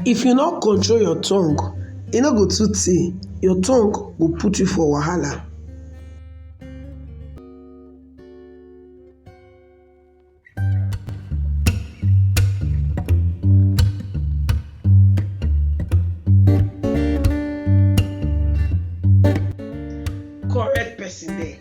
If you no control your tongue, e no go too tey your tongue go put you for wahala. Correct person there.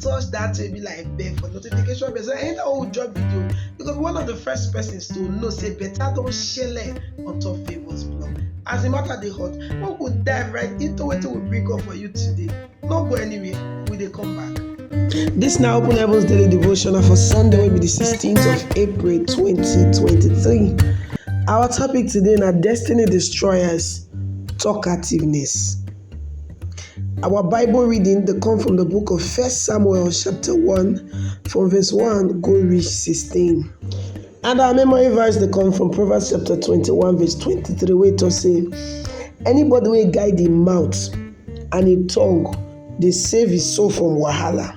touch that way be like bell for notification bell so i enter old job video because one of the first persons to know say better don shele on top favours blog as the matter dey hot we go dive right into wetin we bring up for you today no go anywhere we dey come back. This now Open Heavens Daily Devotional for Sunday will be the 16th of April 2023. Our topic today na Destiny Destroyers Talkativeness. Our Bible reading dey come from the book of First Samuel chapter 1 from verse 1 go reach 16. And our memory verse dey come from Proverbs chapter 21 verse 23 wey talk say anybody wey guide im mouth and im tongue dey save his soul from wahala.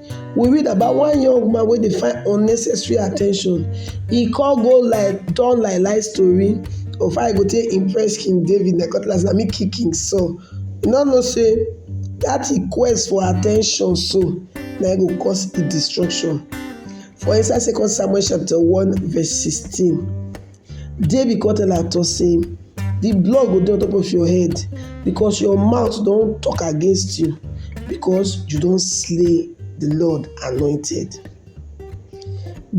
we read about one young man wey dey find unnecessary at ten tion, e come go lie turn lie lie story of how e go take impress king David na cutlass na im kill king Saul, e no know sey dat im quest for at ten tion so na im go cause im destruction for inside second Samuel chapter one verse sixteen. Dare be come tell am to say the blood go dey on top of your head because your mouth don talk against you because you don slay the Lord anointed.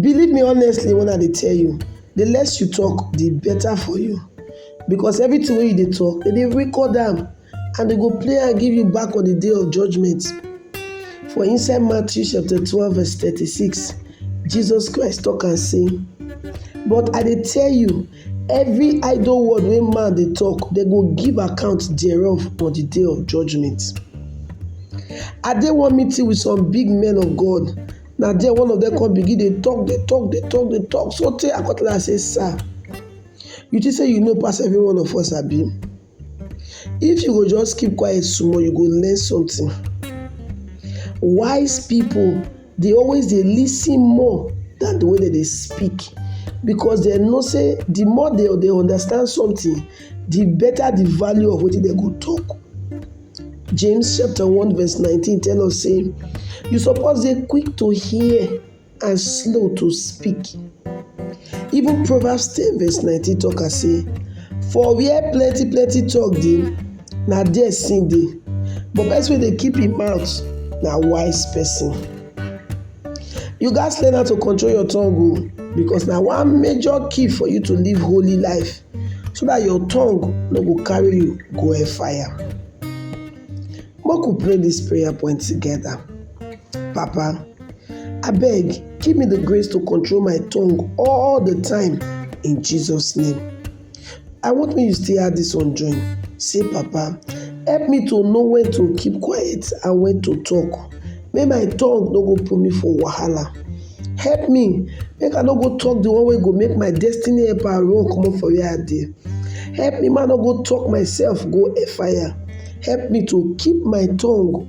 Believe me honestly when I dey tell you, the less you talk, the better for you because everything wey you dey talk, they dey record am. And dem go play am give you back on di day of judgement. For inside Matthew chapter twelve verse thirty-six, Jesus Christ tok am sey, But I dey tell you, every idle word wey man dey tok, dem go give account thereof on di day of judgement. I dey one meeting with some big men of God, na there one of dem come begin dey tok, dey tok, dey tok, dey tok sotey I come tell am sey, Sir, you think sey you know pass every one of us abi? If you go just keep quiet small you go learn something. Wise people dey always dey lis ten more than the way dem dey speak because dem know sey the more dem dey understand something the better the value of wetin dem go talk. James chapter one verse nineteen tell us sey you suppose dey quick to hear and slow to speak. Even Proverbs ten verse nineteen talk am sey for where plenty plenty talk dey na there sin dey but person wey dey keep im mouth na wise person. You gats learn how to control your tongue o oh, because na one major key for you to live holy life so that your tongue no go carry you go hell fire. Make we pray this prayer point together. Papa. Abeg, give me the grace to control my tongue all the time in Jesus' name. I want me you still add this one join. Say, Papa, help me to know when to keep quiet and when to talk. May my tongue no go put me for wahala. Help me make I no go talk the one way go make my destiny help and run comot for where I dey. Help me man no go talk myself go fire. Help me to keep my tongue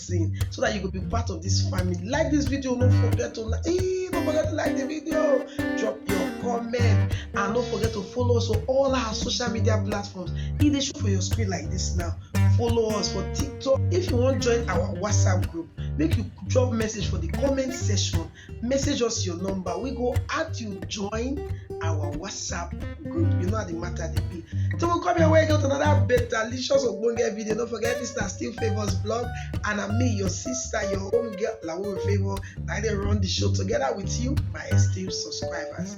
blessing so that you go be part of this family like this video no forget to like hey, no forget to like the video drop your comment and no forget to follow us on all our social media platforms e dey show for your screen like this now follow us for tiktok if you wan join our whatsapp group make you drop message for the comment section message us your number we go add you join our whatsapp group you know how the matter dey be so we come here wey get another better licious ogbonge video no forget mr still favours blog and na me your sister your own girl lawo favour na i dey run the show together with you my esteemed subscribers.